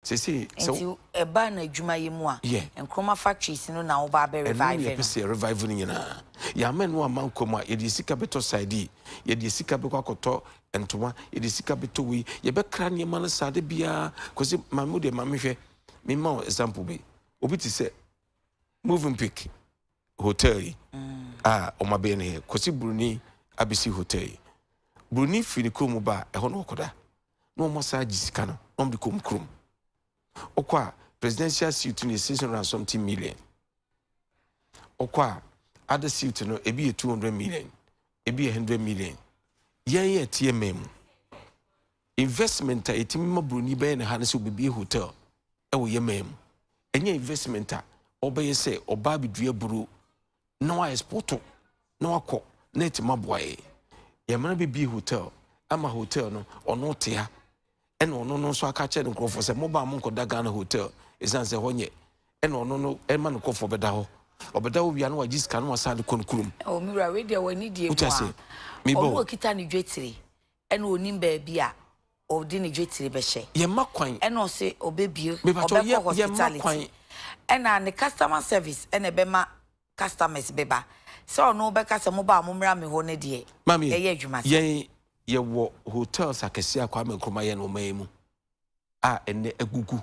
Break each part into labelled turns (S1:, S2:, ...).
S1: Seesei sɛ Nti wo. ɛba
S2: no adwuma yi mu a, Yeah. Nkrumah factories no na woba abɛ Ɛno na revive yɛpɛ no? sɛ yɛ revive no
S1: nyinaa. Yɛama ɛno amma nkwa mu a, yɛde yɛn sika bɛtɔ side yi, yɛde yɛn sika bɛkɔ akɔtɔ ntoma, yɛde yɛn sika bɛtɔ wei, yɛbɛkra nneɛma no saa da biara. Kwasi, maame wo deɛ, ma menhwɛ, memma wo example bi. Obi te sɛ Movenpick. hotel yi a wɔn abɛyɛ ne he kɔsi buroni abɛsi hotel yi buroni firi ne kurom ba a ɛhɔ na ɔkɔda na wɔn asan agye sika no na wɔn de kɔm kurom ɔkɔ a presidential suit no yɛ six hundred and something million ɔkɔ a other suit no ebi yɛ two hundred million ebi yɛ hundred million yɛn yɛ teɛ mɛn mu. Investment a yɛtumi ma buroni bɛyɛ ne ha ne sɛ ɔbɛbie hotel wɔ yɛ man mu. Ɛnyɛ investment a ɔbɛyɛ sɛ ɔbaa bɛdua buro na wa exporto na wakɔ na ɛtumi aboa yɛ. Yɛmana bɛbie hotel ama hotel no ɔno te ha ɛna ɔno no nso aka kyerɛ ne nkurɔfoɔ sɛ mobaa mo nkɔda Ghana hotel ɛsiane sɛ hɔ nyɛ ɛna ɔno no ɛma ne nkurɔfoɔ bɛda hɔ ɔbɛda hɔ wia na wagye sika na wasan de kɔ ne kurom. Ɔmura wei
S2: deɛ wɔ ne deɛ mu a ɔno ɔkita ne dwetire Ɛna ɔnim baabi a ɔde ne dwetire bɛhyɛ. Yɛmma kwan. Ɛna ɔse
S1: ɔbɛbue,
S2: Mepakyɛw, yɛ, ɔbɛkɔ yɛmma hospitality. kwan. Ɛna ne customer service ɛna ɛbɛma customers bɛba. Sɛ ɔno ɔbɛka sɛ moba a mommra me hɔ no deɛ, Maame, ɛyɛ adwuma sa. yɛn yɛwɔ
S1: hotels akɛseɛ a Kwame Nkrumah yɛɛ no ɔman yi mu a ɛnnɛ agugu.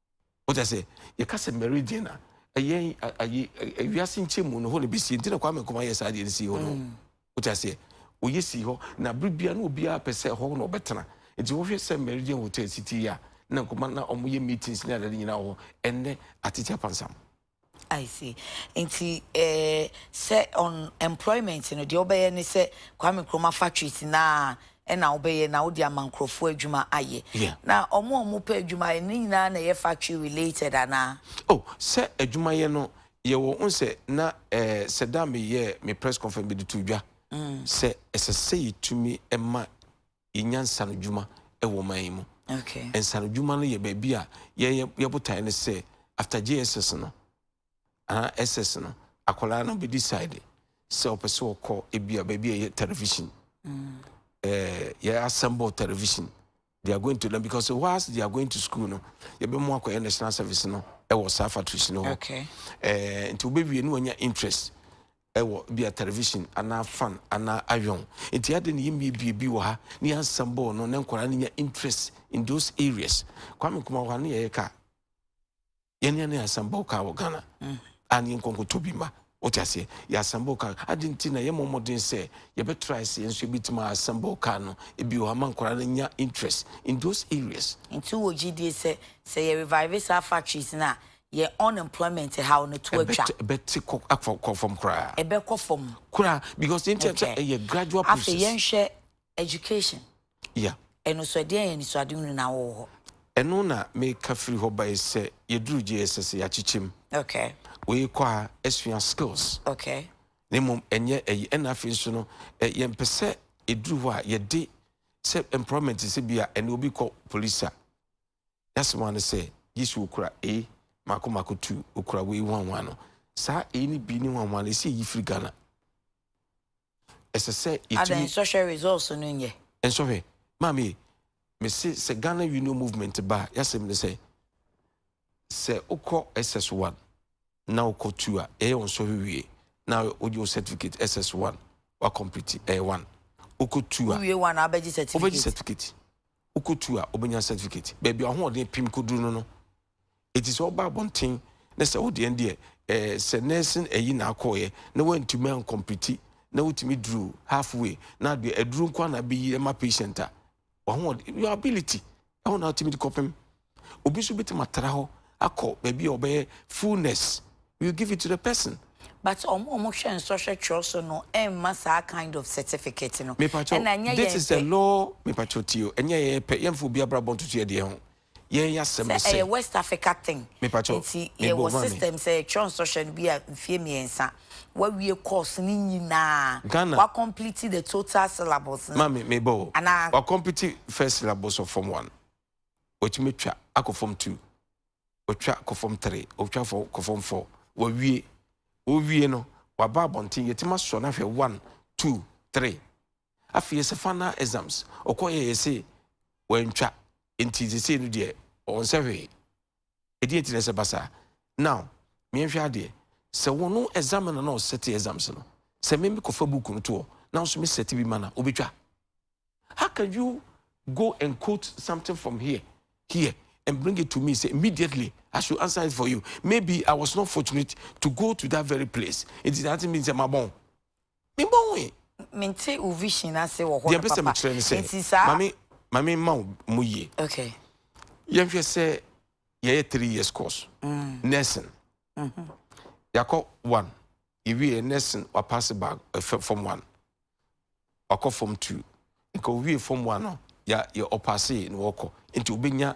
S1: Wate ase? Yɛka sɛ meridian a, ɛyɛ ayi wiase nkyɛnmu no hɔ na besi. Nti na Kwame Nkrumah yɛ saa deɛ no sii hɔ no. Mm. Wate aseɛ? Ɔyɛ sii hɔ na bere biara na obiara pɛ sɛ hɔ na ɔbɛtena. Nti wohwɛ sɛ meridian hotel si ti yɛ a, na Nkrumah na wɔyɛ meetings ne adade nyinaa wɔ hɔ. Ɛnnɛ atete apansam. I
S2: see. Nti eh, sɛ on employment no deɛ wobɛyɛ ne sɛ Kwame Nkrumah factories no a ɛna wobɛyɛ na wode ama nkurɔfoɔ adwuma ayɛ. Yeah. Na ɔmo a ɔmo pɛ adwuma ayɛ no ne nyinaa na ɛyɛ factory related anaa? Oh, sɛ
S1: adwumayɛ no yɛwɔ wohu sɛ na eh, sɛ da a meyɛɛ me press conference mede too dwa sɛ ɛsɛ sɛ yɛtumi ma yɛ nya nsanodwuma wɔ ɔman yi mu. Okay. Nsanodwuma
S2: no yɛ
S1: baabi a yɛyɛ yɛ botaeɛ no sɛ after JSS no anaa SS no akwadaa no bɛ decide sɛ ɔpɛ sɛ ɔkɔ ebi a baabi a yɛ television. Mm. Eh, yɛ assemble television. They are going to learn because whilst they are going to school no yɛbɛ mu akɔyɛ national service no ɛwɔ saa factories no hɔ. Okay.
S2: Eh, nti wobɛwie
S1: ne wanya interest wɔ bia television anaa fan anaa ayon nti adɛn na yɛmmiebie bi wɔ ha ne yɛansɛm bɔɔ no na nkwadaa no nya interest in those areas kwame nkoma wɔ ha ne yɛyɛ kaa yɛne ne yɛansɛm bɔɔ kaa wɔ ghana mm. a ne yɛnkɔnkɔtɔ bi ma wote aseɛ yɛasɛm bɔɔ kaa adɛn nti na yɛmmɔ mmɔden sɛ yɛbɛtra sɛ yɛn nso yɛbɛtumi asɛm bɔɔ kaa no ebi wɔ ha ma nkwadaa no nya interest in those areas nti wɔ gyidie
S2: sɛ sɛ yɛ revive saa factories no a yɛn unemployment haw no to atwa. Ɛbɛte ɛbɛte kɔ akɔ
S1: kɔ fam koraa. Ɛbɛkɔ fam.
S2: Koraa because yɛn ti
S1: yɛn sɛ ɛyɛ gradual process. Afei yɛn hwɛ
S2: education. Yeah.
S1: Ɛno so ɛdeɛn yɛ
S2: nisuade hunu na wɔwɔ hɔ. Ɛno na
S1: meka firi hɔ bae sɛ yɛduru JSS yɛakyekyem. Okay. Wei
S2: kɔ a
S1: ɛsua skills. Okay. Ne
S2: mmom ɛnyɛ
S1: ɛyi ɛna afei nso no yɛn pɛ sɛ ɛduru hɔ a yɛde sɛ employment sɛ bi a ɛna obi kɔ police a. N'asɛm ara ne sɛ, gye sɛ okura A, mako mako tu, okura wei hwanhwan no. Saa A ne B ne hwanhwan no, ɛsɛ yɛyi firi Ghana. Ɛsɛ sɛ yɛtumi. Adɛn, nsɔhwɛ results
S2: no nyɛ? Nsɔhwɛ.
S1: Maame, mese sɛ Ghana Union Movement ba a, y'asɛm ne sɛ, sɛ wokɔ SS1 na wokɔ 2 a, yɛyɛ wo nsɔhwɛ wie na wogye wo certificate SS1, wa complete, ɛyɛ 1. Wokɔ 2 a. Wowie 1 a, wobɛgye certificate.
S2: Wobɛgye certificate.
S1: wokɔtu a wobɛnya certificate baabi a ɔhoɔden pem kɔduru no no ɛti sɛ woba abɔnten na sɛ wodeɛ deɛ eh, sɛ nursing ayi na akɔɔyɛ na woantumi ankɔmpiti na wotumi duru halfway na adeɛ aduru nko na bɛyi ma patient a wahoɔden your ability ɛho na wotumi de kɔpem Obi nso bɛtumi atra hɔ akɔ baabi a ɔbɛyɛ full nurse, we will give it to the person. But ɔmo a ɔmo
S2: hwɛ nsɔhwɛ twerɛ so no mma saa kind of certificate no. Mepakyɛw, Ɛna ɛnyɛ
S1: this yɛn is a pɛ. law, mepakyɛw tie o, ɛnyɛ yɛn pɛ, yɛnfa obi abrabɔ ntoto yɛn deɛ ho. Yɛn yɛ asɛm Sɛ ne sɛ, ɛyɛ West Africa thing,
S2: mepakyɛw, nti me
S1: bo yɛwɔ ma me. system
S2: sɛ yɛtwerɛ nsɔhwɛ no bi a mfeɛ mmiɛnsa, wawie course no nyinaa, Ghana, wa complete the total syllabus no, maame mebɔ o,
S1: anaa. wa complete first syllabus of form one, wɔtumi twa akɔ fam two wɔtwa kɔ fam three wɔtwa fɔ kɔ fam four wɔwie wɔwie no waba abɔnten yɛtumi asɔ no ahwɛ one two three afei yɛsɛ final exams ɔkɔ yɛ yɛsɛ wɔantwa nti sesei no deɛ wɔn sɛ hwee ɛdeɛ nti na ɛsɛ ba saa now meyɛnhwɛ adeɛ sɛ wo no exam no na ɔsɛte exams no sɛ me mekɔfa book no toɔ na nso me sɛte bi ma na wobɛtwa how can you go and quote something from here here and bring it to me say immediately I should answer it for you maybe I was not fortunate to go to that very place it is nothing means my bone Me bɔ ho e. Me nte wo
S2: vision ase wɔ hɔ no papa. Deɛ mpɛ sɛ me kyerɛ ne sɛ. Nti saa.
S1: Mami mami ma wo mu yie. Okay.
S2: Yɛn hwɛ
S1: sɛ yɛ yɛ three years course. Mm. Nursing. Mm -hmm. Yakɔ one. Yɛ wie yɛ nursing wa pass bag ɛfɛ eh, form one. Wakɔ form two. Nka owie form one no ya yɛ ɔpaase na wɔkɔ. Nti obenya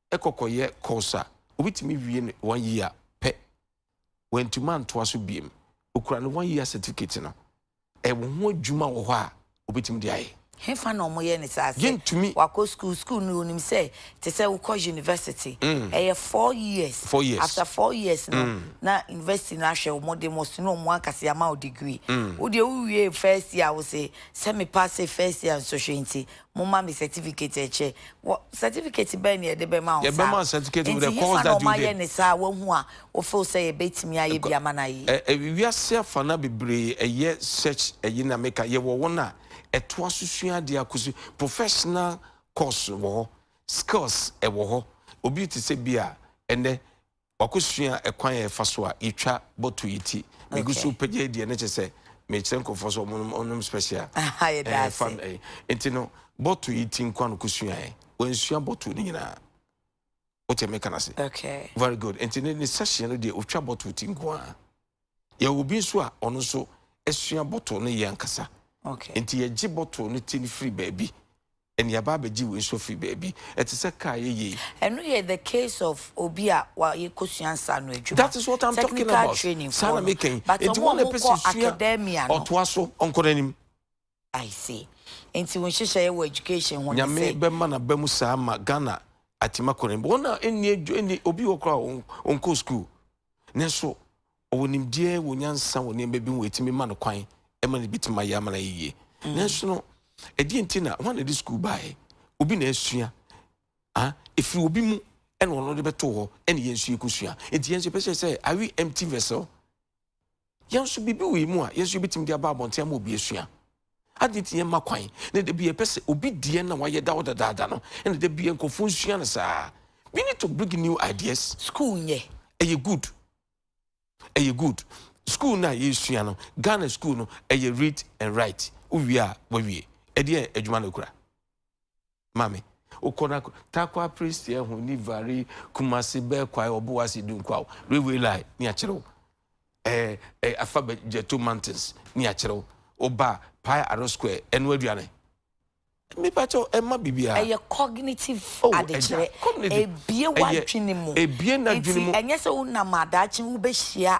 S1: kɔ kɔyɛ course a obi tumi wie no one year pɛ, wantumi antoa so biem, okura ne one year certificate no, ɛwɔ ho adwuma wɔ hɔ a obetumi de ayɛ. Hefa na wɔyɛ no
S2: saa? Sɛ Yɛntumi. wakɔ sukuu, sukuu no wonim sɛ te sɛ wokɔ university, ɛyɛ four years, Four years. after four years no na university no ahwɛ wo, wɔde mo sono wɔn ankasa ama wo degree, wo deɛ wowiee first year a wose sɛ me paase first year nsɔhwɛ nti Momma me certificate ɛkyɛ. Wɔ, certificate bɛn na yɛde bɛma wo saa? Yɛbɛma certificate with Nti the
S1: course hefa na that you wɔayɛ did. ne saa a wahu a
S2: wofeel sɛ yɛbɛtumi ayɛ Ɛkɔ, bi ama no ayɛ yi? ɛ, ɛ, wiase afana
S1: bebree ɛyɛ such ɛyi na meka, yɛwɔ wɔn a ɛtoa so sua adeɛ akɔsi professional course wɔ hɔ, skills ɛwɔ hɔ, obi te sɛ bi a ɛnnɛ Wakɔsua ɛkwan a yɛfa so a yɛtwa bottle yi ti. Megu so repagya yi deɛ na kyerɛ sɛ merekyerɛ nkurɔfoɔ sɛ wɔnnom wɔnnom special. Ɛɛ fa
S2: ɛɛ nti no
S1: bottle yi ti nko ara na ɔkɔsuaeɛ. Wansua bottle no nyinaa. Wote meka no ase? Very good. Nti
S2: ne ne
S1: session no deɛ ɔtwa bottle ti nko ara. Yɛwɔ obi nso a ɔno nso asua bottle no yɛ ankasa. Okay. Nti yɛgye
S2: bottle
S1: no ti no firi baabi. Ɛne yɛaba abɛgye wei nso firi baabi. Ɛte sɛ kaa yɛyɛ yi. Ɛno yɛ the
S2: case of obi a wayɛ kosua nsa no adwuma. That is what I'm talking about.
S1: Technical training foɔ no. Saa na meka yi. Nti wɔn na ɛpɛ sɛ
S2: sua ɔtoa so
S1: ɔnkɔ n'anim. I
S2: see. Nti wo nhyehyɛeɛ wɔ education ho ne sɛ. Nyame bɛma no aba mu
S1: saa ma Ghana atim akɔ n'anim. Wɔn a ɛnni adwa ɛnni obi wɔ koraa ɔnkɔ sukuu nanso ɔwɔ nimdeɛ wɔ nyansa wɔ nneɛma bi ho ɛtumi ma no kwan ɛma no bɛtumi ayɛ ama no ayɛ yie. Mm. Nanso no ɛdeɛ nti na wɔn a ɛde sukuu baeɛ obi na asua ah ɛfiri obi mu ɛna ɔno de bɛto hɔ ɛna yɛn nso yɛkɔsua. Nti yɛn nso yɛpɛ sɛ sɛ are we empty vessel? Yɛn nso biribi wɔ yɛn mu a yɛn nso yɛbɛtumi de aba abɔnten ama obi asua. Adɛn nti yɛmma kwan na da bi yɛpɛ sɛ obi deɛ na wayɛ da hɔ dadaada no na da bi nkurɔfoɔ nsua no saa? We need to bring new ideas. School yɛ.
S2: Ɛyɛ good.
S1: Ɛyɛ good. School no a yɛsua no, Ghana school no, ɛyɛ read and write. Wowie a, woawie. Ɛdeɛ adwuma na ɛkura. ma me. Wokɔ na Tarkwa Prestea ho ni vari Kumasi bɛɛ kwae Obuasi Dunkwaw Railway Line ni akyerɛ wo. Eh, eh, afa Jeto Mountains ni akyerɛ wo. Oba Pie Aro Square ɛno aduane. Me pa kyɛw ɛma bibia. Ɛyɛ cognitive
S2: oh, adekyerɛ. Cognitive. Ebie w'adwene mu. Ebie n'adwene mu. Nti
S1: ɛnyɛ sɛ wonam adaakye
S2: wobɛhyia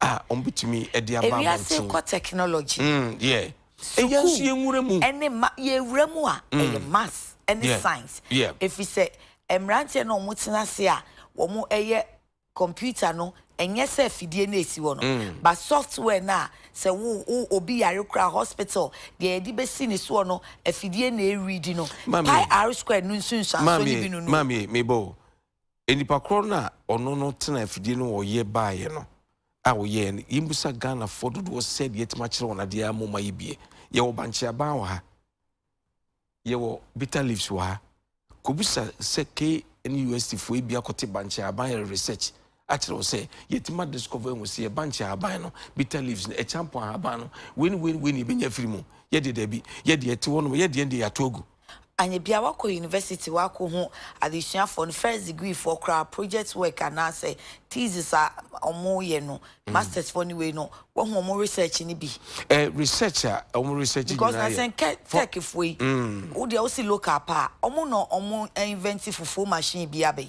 S1: a wɔbetumi de aba abɔnten. Ewiase rekɔ technology.
S2: Mm, yeah.
S1: Sukuu. Ɛyɛ nso yɛn
S2: nwura mu. Ɛne ma yɛn nwura mu a mm. ɛyɛ maths ɛne yeah. science. Yeah. Efi sɛ mmeranteɛ na wɔn tena ase a
S1: wɔn
S2: ɛyɛ computer no ɛnyɛ sɛ fidie na esi hɔ no mm. but software na sɛ wo wo obi yare kura hospital deɛ yɛde bɛsi ne soɔ no afidie na ɛredi no pi r square no nsunsuansoɔ no bi no no maame mebɔ
S1: Nnipa korɔ no a ɔno no tena afidie no ɔyɛ baeɛ no a ɔyɛɛ no yɛmmisa Ghanafoɔ dodoɔ sɛdeɛ yɛatumi akyerɛ wɔn adeɛ ara mmom ma yɛbie yɛwɔ Bankye Aban wɔ ha yɛwɔ Bitter Leaves wɔ ha kɔbisa sɛ KNUST foɔ ebi akɔte Bankye Aban yɛ research akyerɛ wo sɛ yɛtumi ma discover ahu sɛ yɛ Bankye Aban no Bitter Leaves no ɛkyampɔn ahaban no wei ne wei ne wei ne yɛbɛnya afiri mu yɛdeɛ daabi yɛdeɛ ɛte hɔ nom yɛdeɛ deɛ yɛato agu Anyɛ biaa woakɔ
S2: university woakɔhu adesuafoɔ no, first degree foɔ koraa project work anaasɛ thesis a wɔn yɛ no, mm. masters foɔ no wei no, woahu wɔn research no bi. Eh, research a
S1: wɔn research nyinaa yɛ. Because na sɛ nkɛ
S2: tech foɔ yi, mm. wo deɛ wosi local paa, wɔn na wɔn invent fufuo machine bi abɛyi.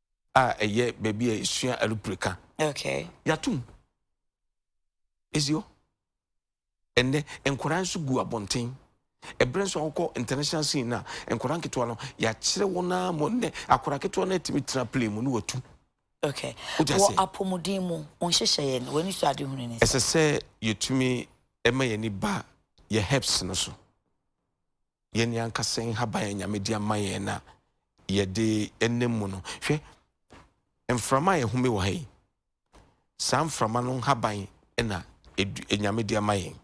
S1: a ɛyɛ baabi a yɛsua alupreka. Okay. Yɛatom. Ɛsi hɔ. Ɛnnɛ, nkwadaa nso gu abɔnten. Ɛberɛ nso a wokɔ international scene no a, nkwadaa nketewa no, yɛakyerɛ wɔn ara mɔ nnɛ, akwadaa ketewa no atumi tena plane mu ne watu. Okay.
S2: Wɔ apɔmuden mu, wo nhyehyɛeɛ no, w'ani so ade hunu ne sɛ? Ɛsɛ sɛ yɛtumi
S1: ɛma yɛn ani ba yɛ hips no so. Yɛn ankasa nhaban a Nyame de ama yɛn na yɛde nam mu no. Hwɛ, mframa a ɛhome wɔ ha yi, saa mframa no nhaban na Nyame de ama yɛn.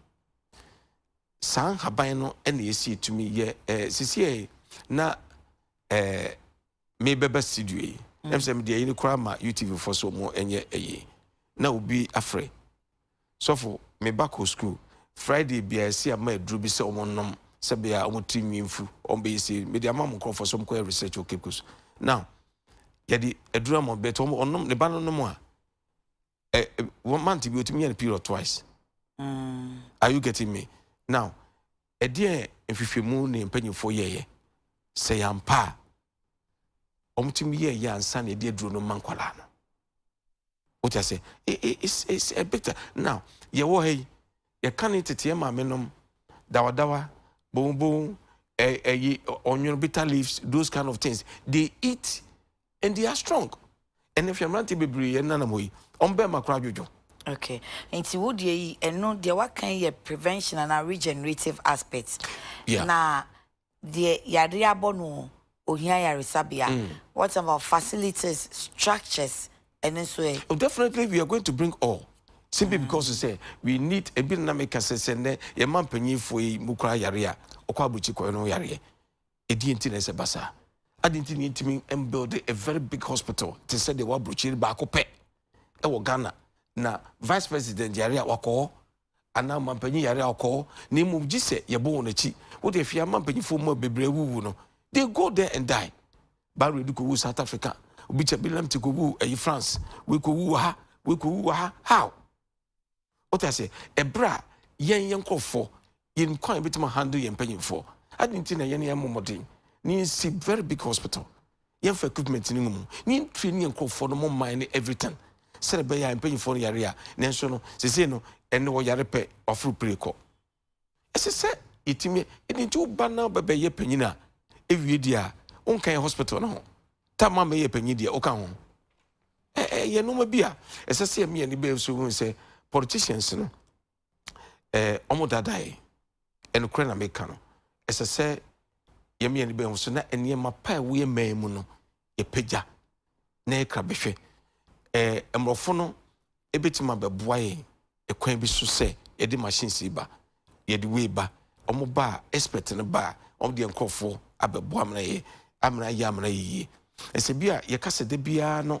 S1: Saa nhaban no na ɛsi etumi yɛ ɛɛ sisi yɛ na ɛɛ mebɛba studio yi. Ɛm sɛ mede ayi no koraa ma UTV fo so mo ɛnyɛ ɛyi na obi afrɛ. Sɔfo, me ba kɔ sukuu Friday biara, ɛsɛ yɛ ma aduro bi sɛ wɔn nom sɛ bɛyɛ a wɔn tiri nwi nfu, wɔn bɛyɛ sei, mede ama mo nkorɔfoɔ sɛ wɔn kɔ yɛ research wɔ Cape Coast. Now, yɛde aduro ama wɔn, but wɔn, wɔn nom, ne ba no nom a, ɛ, ɛ, wɔn month bi otumi yɛ no period twice. Mm. Are you getting me? Now, Ɛdeɛn nhwehwɛmu ne mpanimfoɔ yɛeɛ? Sɛ yɛ ampa a, wɔtumi yɛɛ yɛ ansa na yɛde aduro no ma nkwadaa no. Wote ase? It's, it's a bit. Now, yɛwɔ ha yi, yɛka ne teteɛ maame nom, dawadawa, bonbon, ɛyi, eh, eh, ɔnwono, bitter leaves, those kind of things. They eat and they are strong ɛnɛ hwɛ mmeranteɛ bebree yɛn nanam hɔ yi wɔn bɛn ma koraa dwodwo. okay
S2: nti wo deɛ yi ɛno deɛ waka yi yɛ prevention anaa regenerative aspect yeah. na deɛ yadeɛ abɔ no ohia yaresabea mm. what about facilities structures ɛno nso ɛ. oh definitely we are going to
S1: bring all simply mm. because sɛ we need ebi nna meka sɛ sɛ nnɛ yɛma mpanyinfoɔ yi mu koraa yareɛ a ɔkɔ aburukyi kɔɛ no yareɛ Ɛdeɛn nti na ɛsɛ ba saa? Adɛn nti na yɛntumi mbuilde a very big hospital te sɛ deɛ ɛwɔ aburokyiri baako pɛ ɛwɔ Ghana na vice president yare a wakɔ hɔ anaa mampanyin yare a ɔkɔ hɔ na mmom gye sɛ yɛbɔ wɔn akyi. Wode hwɛ ama mpanyinfoɔ mu a bebree awuwu no they go there and die. Barrowed kɔwu South Africa, obi kyɛ Bilamte kɔwu ɛyi France, wei kɔwu wɔ ha, wei kɔwu wɔ ha, how? Wote ase? Ɛberɛ a yɛn, yɛn nkorɔfoɔ, yɛnim kwan a yɛbɛtumi ahandle yɛn mpanimfoɔ. Adɛn nti na yɛn yɛmmɔ mmɔden na yɛnsi very big hospital, yɛmfa equipment no ngumu, na yɛntraini yɛn nkorɔfoɔ no, mo mman ne everything, sɛdeɛ ɛbɛyɛ a mpanimfoɔ no yare a, nanso no, seesei no, ɛnnɛ wɔyare pɛ, wɔaforo pire kɔ. ɛsɛ sɛ yɛtumi yɛ. Ɛde nti wo ba na bɛbɛyɛ panyin a, ɛwie deɛ a, wonka yɛ hospital no ho. Ta ma mɛyɛ panyin deɛ, woka ho. Ɛyɛ nnoɔma bi a, ɛsɛ sɛ yɛmi ani bɛyɛ so hu sɛ politicians no, wɔn dadae. Ɛnokorɛ na meka no. Ɛsɛ sɛ yɛmi ani bɛyɛ ho so na nneɛma pa a ɛwɔ yɛ man mu no, yɛpagya na yɛkra bɛhwɛ. Mmorɔfo no bɛtumi abɛboa yɛn kwan bi so sɛ yɛde machines yi ba, yɛde wei ba, wɔn ba a, expert no ba a, wɔn deɛ nkurɔfoɔ abɛboa amena yɛ amena yɛ amena yɛ yie. Ɛsɛ bi a yɛka sɛ da biara no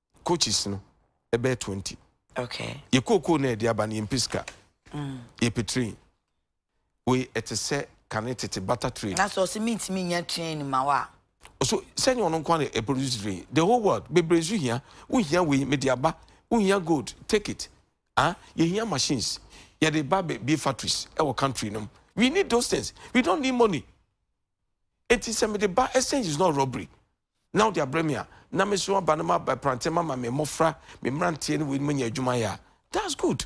S1: coaches no ɛbɛyɛ twenty. Okay. Yɛ
S2: kookoo na yɛde
S1: aba no yɛn mpɛ sika. Mm. Yɛ pɛ train. Wei ɛte sɛ kane tete butter train. Na sɛ ɔsɛ mi ntumi nya
S2: train ma wa. So sɛnyɛ
S1: ɔno nko na produce train the whole world bebree nso hia wohia wei mede aba wohia gold take it ah yɛhia machines yɛde ba bie factories ɛwɔ country nom we need those things we don't need money enti sɛ mede ba exchange is not robbery na wode abrɛ me a, na me so aba no ma aba prantɛ ma ma me mmɔfra, me mmeranteɛ ne weinom anya adwuma yɛ a, that's good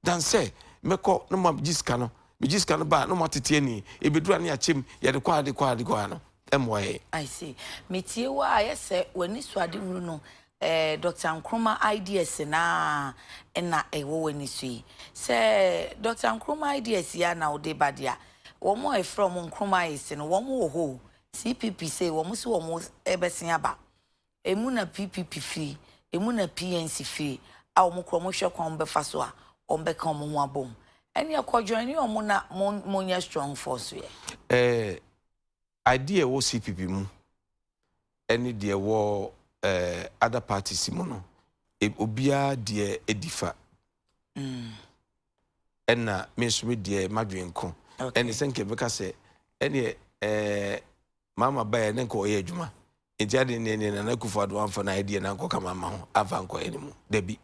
S1: than sɛ mɛkɔ na ma gye sika no, me gye sika no ba a na wɔatete ani, ɛbɛduru a na yɛakyɛ mu, yɛde kɔ a yɛde kɔ a yɛde kɔ a no ɛmmoa yɛn. I see.
S2: Metie wo a ayɛ sɛ w'anisoadehunu no ɛɛ Doctor Nkrumah ideas no ara na ɛwɔ w'ani so yi. Sɛ Doctor Nkrumah ideas yi ara na wode ba deɛ a, wɔn a yɛfrɛ wɔn Nkrumahists no, wɔn wɔ hɔ o, CPP sei wɔn se wɔn rebɛsen aba. Emu na PPP firi, emu na PNC firi a wɔn kura wɔn hwɛ kwan wɔn bɛfa so a wɔn bɛka wɔn ho abom. Ɛneɛ kɔ joine wɔn na mo mo nyɛ strong force yɛ. Eh, idea
S1: ɛwɔ CPP mu ɛne deɛ ɛwɔ eh, other parties mu no, obiara deɛ ɛdi fa. Mm. Ɛna me nso me deɛ m'adwene ko. Ɛne sɛ nka ɛbɛka sɛ ɛneɛ ɛɛ maama baeɛ ne nka ɔyɛ adwuma. Nti ade ne ne nana kufu ado amfa na ɛdeɛ na nkɔka maama ho amfa nkɔyɛ ne mu. Dabi.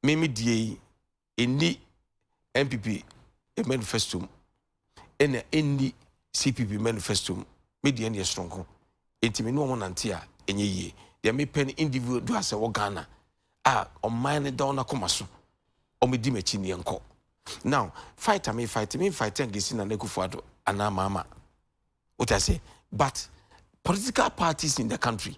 S1: Me me die yi ɛni NPP manifesto mu. ɛna ɛnni CPP manifesto mu. Me deɛ ɛneɛ soronko. Enti me ne wɔn nante a ɛnyɛ yie. Deɛ mepɛ ne individuals a ɛwɔ Ghana a ɔman no da wɔn akoma so. Wɔn di m'akyi neɛ nkɔ. Now fight a me fight me fight ngesi na nekufu ado anaa mama. What I say? But political parties in the country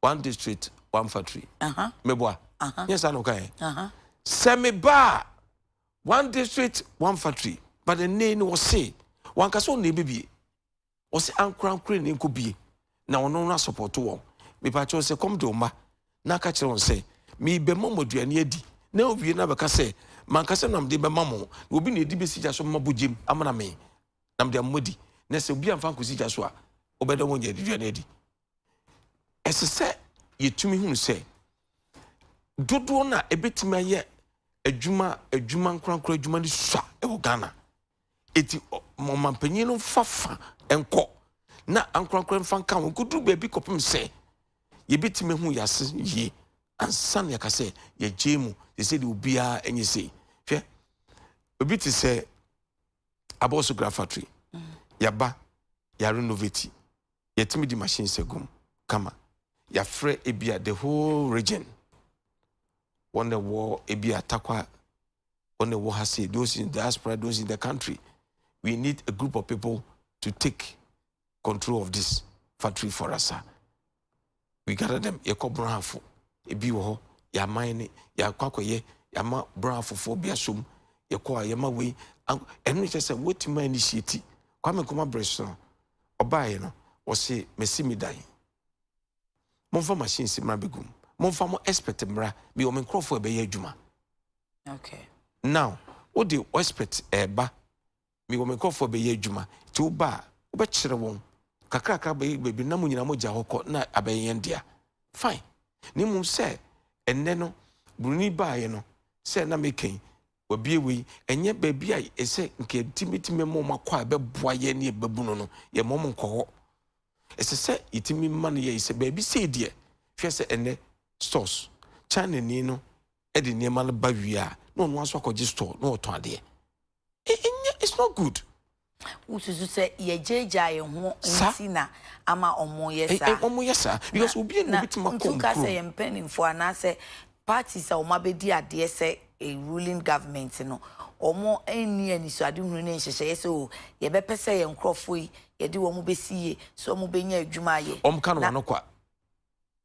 S1: One district, one factory. Meboa. Nyɛ saa na ɔka ɛ. Sɛ meba a, one district, one factory. But ɛnɛ ni ɔse, wanka sɛ ɔno na ɛbɛbie. Ɔse ankorankore ne nkɔ bie. Na ɔno no asɔpɔto wɔn. Mepa kyɛw sɛ kɔm de wo mma na aka kyerɛ wɔn sɛ, merebɛma mo aduane adi. Na ɔwie na bɛka sɛ, mankasa na mede bɛma mo. Na obi na ɛdi bɛsi gya so mma bogyam amena me. Na mede ama mo adi. Na sɛ obi amfa ankɔsi gya so a, ɔbɛda wɔn aduane adi. ɛsɛ sɛ yɛtumi hunu sɛ dodoɔ no a ɛbɛtumi ayɛ adwuma adwuma nkorankora adwuma no sua wɔ ghana ɛti ɔmanpanyin no mfa fa nkɔ na ankorankora mfa nka ho nkɔduru baabi kɔpem sɛ yɛbɛtumi hu yɛase yie ansa na yɛka sɛ yɛgye mu te sɛ deɛ obiara ɛnyɛ sei hwɛ obi te sɛ abɔso gra factory yɛba yɛarenovati Yɛtumi di machine sɛ gum kama. Yɛafrɛ ebi a the whole region. Wɔn na ɛwɔ ebi a takwa, wɔn na ɛwɔ ha se, those in diaspora, those in the country. We need a group of people to take control of this factory for us. we gather them yɛkɔ borɔhafo ebi wɔ hɔ yɛaman ne yɛakɔ akɔyɛ yɛama borɔhafofoɔ bi asom yɛkɔ a yɛma wei ɛno ne kyɛ sɛ wotumi ayɛ ne hyiati kwame nkɔma berɛ so no ɔbaeɛ no wɔse masi me dan momfa machine si mmara bɛgum momfa mo expert mmara bi wɔ me nkurɔfoɔ ɛbɛyɛ adwuma okay.
S2: now
S1: wode expert ɛba Mewɔ me nkurɔfoɔ a bɛyɛ adwuma, nti wo ba a, wobɛkyerɛ wɔn, kakrakra bɛyɛ baabi no na mo nyinaa mogya hɔ kɔ na abɛyɛ yɛn dea. Fine. Na mmom sɛ, ɛnnɛ no, Buroni baeɛ no, sɛ na meka yi, wabue wei, ɛnyɛ baabi a ɛsɛ nka yɛde bɛtumi bɛma wɔn akɔ a ɛbɛboa yɛn ne yɛn babunu no, yɛmma wɔn nkɔ hɔ. Ɛsɛ sɛ yɛtumi ma no yɛyi sɛ baabi sei deɛ, hwɛ sɛ ɛnnɛ stores, Chinani no de nneɛma no ba wie a, na ɔno ara nso akɔgye store na ɔtɔn adeɛ. Ɛnyɛ it's not good. Wosusu
S2: sɛ yɛgyaagyaa yɛn ho nti na ama wɔyɛ saa. Wɔyɛ saa because
S1: obi na obetumi akɔ nkuro. Ntuka sɛ yɛn mpanimfoɔ
S2: anaasɛ parties a wɔabɛdi adeɛ sɛ ruling government no, wɔn nni anisoadehunu ne nhyehyɛeɛ sɛ o oh, yɛbɛpɛ sɛ yɛn nkurɔfoɔ yi yɛde wɔn bɛsi yie sɛ wɔbɛnya adwuma ayɛ. Wɔka no ano kwa.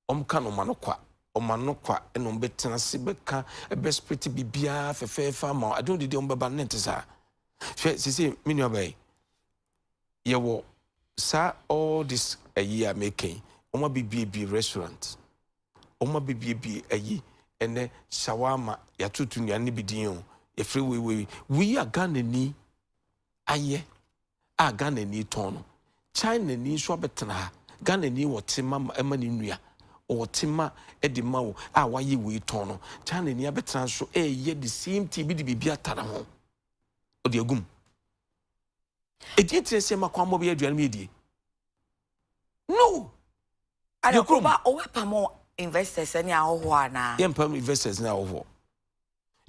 S1: Wɔka no ma no kwa, wɔma no kwa na wɔbɛtena ase bɛka bɛsprete biribiara fɛfɛɛfɛ ama wo. Ade wɔde deɛ wɔbɛba no na ɛnte saa. Hwɛ sese me nuaba yi, yɛwɔ saa all this ayi a meka yi, wɔn abebiebie restaurant, wɔn abebiebie ayi ɛnɛ shawarma yɛatoto nnuane no bi din o, yɛfrɛ wei wei. Wei a Ghanani ayɛ. a Ghanani tɔn no. Chinani nso abɛtena ha. Ghanani wɔ tema ma ɛma ne nua. Ɔwɔ tema de ma wo a wayɛ wei tɔn no. Chinani abɛtena nso ɛyɛ the same thing bi de biribi ata ne ho. Ɔde agum. Ɛdi ntina sɛ ɛma kwammɔ bɛyɛ aduane mu yɛdie? No!
S2: Yɛ kurom. Ɔbɛpamo investors ne ahɔhoɔ anaa? Yɛmpam investors ne
S1: ahɔhoɔ.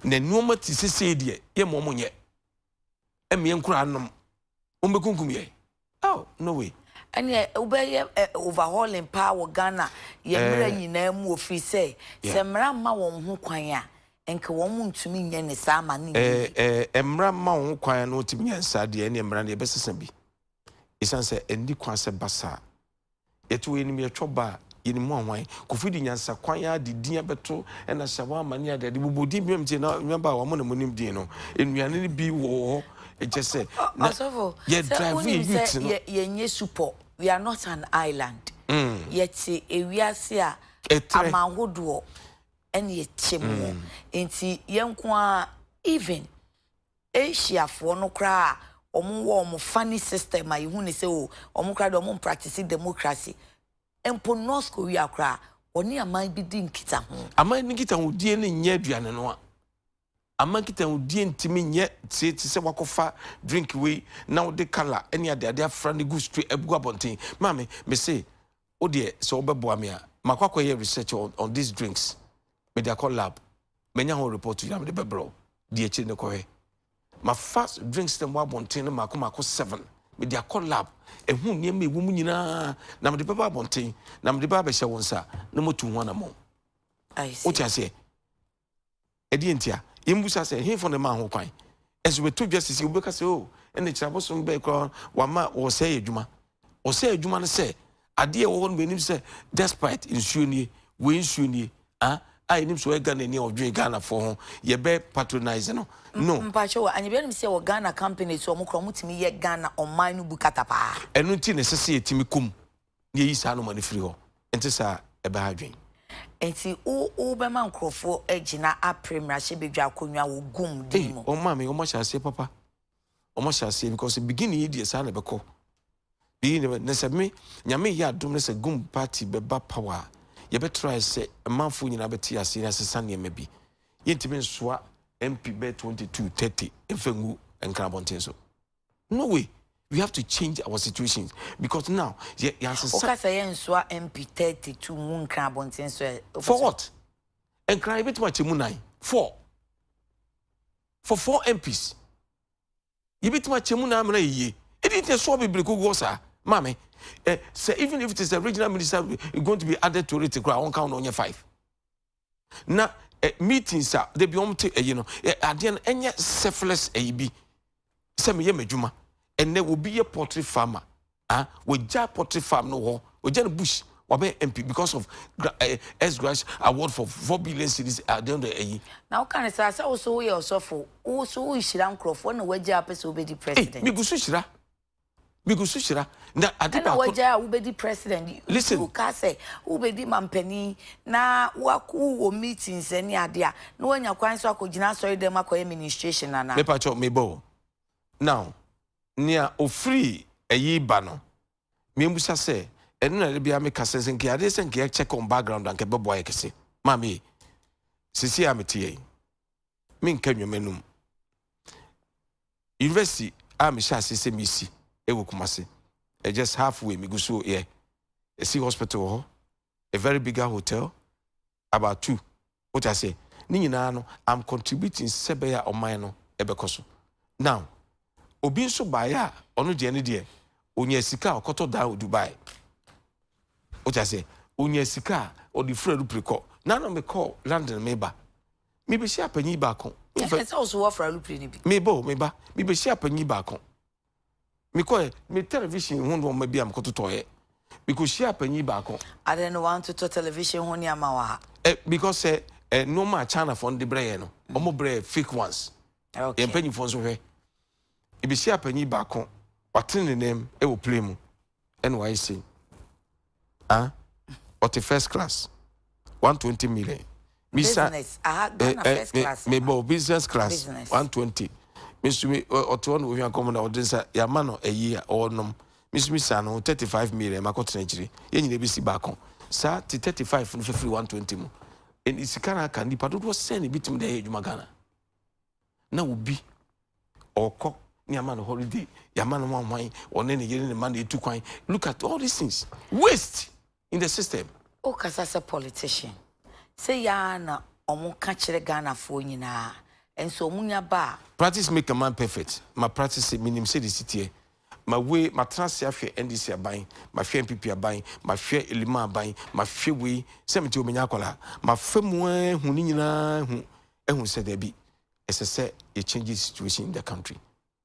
S1: na nnoɔma te sɛ sei deɛ yɛmma wɔn nyɛ ɛmmeɛ nkoraa nnom wɔn bɛkunkum yɛn oh no way ɛneɛ wobɛyɛ
S2: overhauling paa wɔ Ghana yɛ mmerɛ nyinaa mu ɔfiri sɛ sɛ mmara mma wɔn ho kwan a nka wɔn mu ntumi nyɛ ne saa ma ne nyɛ mmara mma wɔn
S1: ho kwan a na wɔtumi nyɛ nsaa deɛ ɛneɛ mmara no yɛbɛsesa bi ɛsiane sɛ ɛndi kwan sɛ basaa Yɛte hɔ yɛnim yɛtwɔ ba a, yɛnim ho ahwan. Kofi de nyansakwan ara de din abɛto ɛna hyɛ hɔ ama ne ade ade. Bobɔ din bi ma me tie na nnuaba a wɔn na monim din no, nnuane no bi wɔ hɔ kyɛ sɛ na Ɔsɔfo, yɛ
S2: sɛ drive yɛ
S1: wonim sɛ youth no. yɛ yɛnyɛ supɔ,
S2: we are not an island. Yɛte ewiase a Ɛtrɛ. aman hodoɔ ɛna ɛte mu. Nti yɛn nko ara even Asia foɔ no koraa a wɔn wɔ wɔn funny system a yɛhu no sɛ oh wɔn koraa deɛ wɔn practice democracy mpo North Korea koraa wɔne aman bi di nkitaho. Aman bi nkitahodie
S1: no nyɛ aduane noa. Aman nkitahodie ntumi nyɛ te te sɛ woakɔfa drink wei na wode colour ne adeade afra no gu stre agu abɔnten. Maame mese wo deɛ sɛ wobɛboa me a makɔ akɔyɛ research on on these drinks mede akɔ lab. manya ho report yi na mede bɛbrɛ wo di akyiri no kɔhwɛ mafa drinks no mu abɔnten no mako mako seven mede akɔ lab ɛho nneɛma ɛwɔ mu nyinaa na mede bɛba abɔnten na mede bɛba abɛhyɛ wo nsa na motu ho anamɔ wote
S2: aseɛ
S1: ɛdeɛ ntia yɛmbusa sɛ hemfo ne ma ho kwan ɛso bɛto dwa sisi wobɛka sɛ o oh, ɛne kyerɛ abosom bɛɛ koraa wama wɔ sɛ yɛ adwuma ɔsɛ adwuma no sɛ adeɛ ɛwɔ hɔ no bɛnim sɛ despite nsuo nie wei nsuo nie ah a yɛnim sɛ ɔyɛ Ghana ni a ɔdwen Ghanafoɔ ho yɛbɛ patronise no no Mpakyɛ wɔ anyɛbia
S2: nim sɛ wɔ Ghana companies ɔmo kora ɔmo tumi yɛ Ghana ɔman no bu kata paa. Ɛno nti na ɛsɛ sɛ
S1: yɛtumi kɔ mu na yɛyi saa nnoɔma no firi hɔ ɛnte saa ɛbɛha adwene. Nti
S2: wo wo bɛma nkorɔfoɔ agyina apre mmarahyɛbadwa akonnwa wɔ gum din mu? Ei ɔma me ɔmo ahyɛ aseɛ papa.
S1: wɔn ahyɛ aseɛ because beginning yi deɛ saa na ɛbɛkɔ beginning bɛ na sɛ me nyame yɛ adom na sɛ gum party bɛba power a yɛbɛtrae sɛ mmanfoɔ nyinaa bɛte aseɛ na asesa nneɛma bi yɛntumi nsoa mp bɛɛ 22 30 mfa ngu nkra abɔnten so no way we have to change our situations because now yɛ yɛasesa woka sɛ yɛnsoa
S2: mp 32 ngu nkra abɔnten
S1: so for what nkra yɛbɛtumi akyɛ mu nan four for four MPs yɛbɛtumi akyɛ mu na amena yɛ yie ɛdi nti ɛsoɔ bebree kogu hɔ saa maame ɛ sɛ even if it is a regional minister going to be added to it koraa wɔnka wo na ɔnyɛ five na ɛ meetings a dabi wɔn te ɛyi no ɛ adeɛ no ɛnyɛ selfless ɛyi bi sɛ meyɛ m'adwuma ɛnɛ obi yɛ poultry farmer. Ah, wɔgya pottery farm no hɔ, wɔgya no bush, wabɛ MP because of gra eh, S Grash award for four billion cities at the end of ɛyi. Na woka no saa sɛ wo
S2: so woyɛ ɔsɔfo, wo so wohyira nkurɔfoɔ na wagya a wopɛ sɛ wobɛdi Ei, president. megu so hyira,
S1: megu so hyira. Na ade Ɛna baako, wagya a
S2: wobɛdi president. Nti listen, woka sɛ wobɛdi mampanin na woak- wowɔ meetings ne ade a, na woanya kwan nso akɔgyina asɔredam akɔyɛ ministration anaa? mepa kyɛw, mebɔ o.
S1: Now, nea ofiri ayi ba no, mimmisa sɛ, ɛno na ɛde bia meka sɛ, sɛ nka adeɛ sɛ nka yɛ check on background anka ɛbɛboa yɛ kɛse. Maame ye, sisi a mete yɛn, menka nnwom anum. University a mehyɛ ase sɛ mesi ɛwɔ Kumasi, ɛ just halfway megu so yɛ. Ɛsi hospital wɔ hɔ, a very bigger hotel, about two wote aseɛ ne nyinaa no I'm contributing sɛ bɛyɛ a ɔman no ɛbɛkɔ so now obi nso baeɛ a ɔno deɛ ne deɛ ɔnya sika a ɔkɔtɔ dan wɔ Dubai wote aseɛ ɔnya sika a ɔde firi alupere kɔ na na mekɔ London meba mebɛhyia panyin baako ɛsɛ sɛ wo so wɔfra
S2: alupere no bi meba o meba
S1: mebɛhyia panyin baako Mekɔeɛ. Me tɛlɛvihyen ho nnoɔma bi a mekɔtotɔeɛ. Mekɔhyiaa panin baako. Adɛn na woantotɔ
S2: tɛlɛvihyen ho nneɛma wɔ ha? Eh, because sɛ
S1: eh, nnoɔma a Chinafoɔ no de brɛ yɛn no, mm. wɔn brɛ fake ones. Okay. Yɛn mpanimfoɔ
S2: nso hwɛ.
S1: Ebehyiaa panin baako, watene ne nan mu wɔ plane mu. ɛna wayɛ sei ah ɔte first class one twenty million
S2: misa mebɔ business class
S1: one twenty mesumi ɔte hɔ na ohwɛ akɔm na ɔde nsa yama no ayi a ɔnom mesumi sa no thirty five million ma kɔtena akyire yɛn nyinaa bɛsi baako saa te thirty five no fifiri one twenty mu sika no aka nipa dodoɔ sɛn na ebi tumi de ayɛ adwuma ghana. na obi ɔkɔ ne ama no holiday yɛama no wanwan ɔne ne yere ne ma na ɛtu kwan look at all these things waste in the system wokasa sɛ
S2: politician sɛ yaa na ɔmo ka kyerɛ ghanafoɔ nyinaa nso ɔmo nya ba a practice make a man
S1: perfect ma practice sɛ menim sɛ de siteɛ ma wei matena ase ahwɛ ndc aban mahwɛ npp aban mahwɛ elima aban mahwɛ wei sɛ mete ɔmenya akɔla mafa mu ahu ne nyinaa hu ahu sɛ dabi ɛsɛ sɛ yɛ change the situation in the country.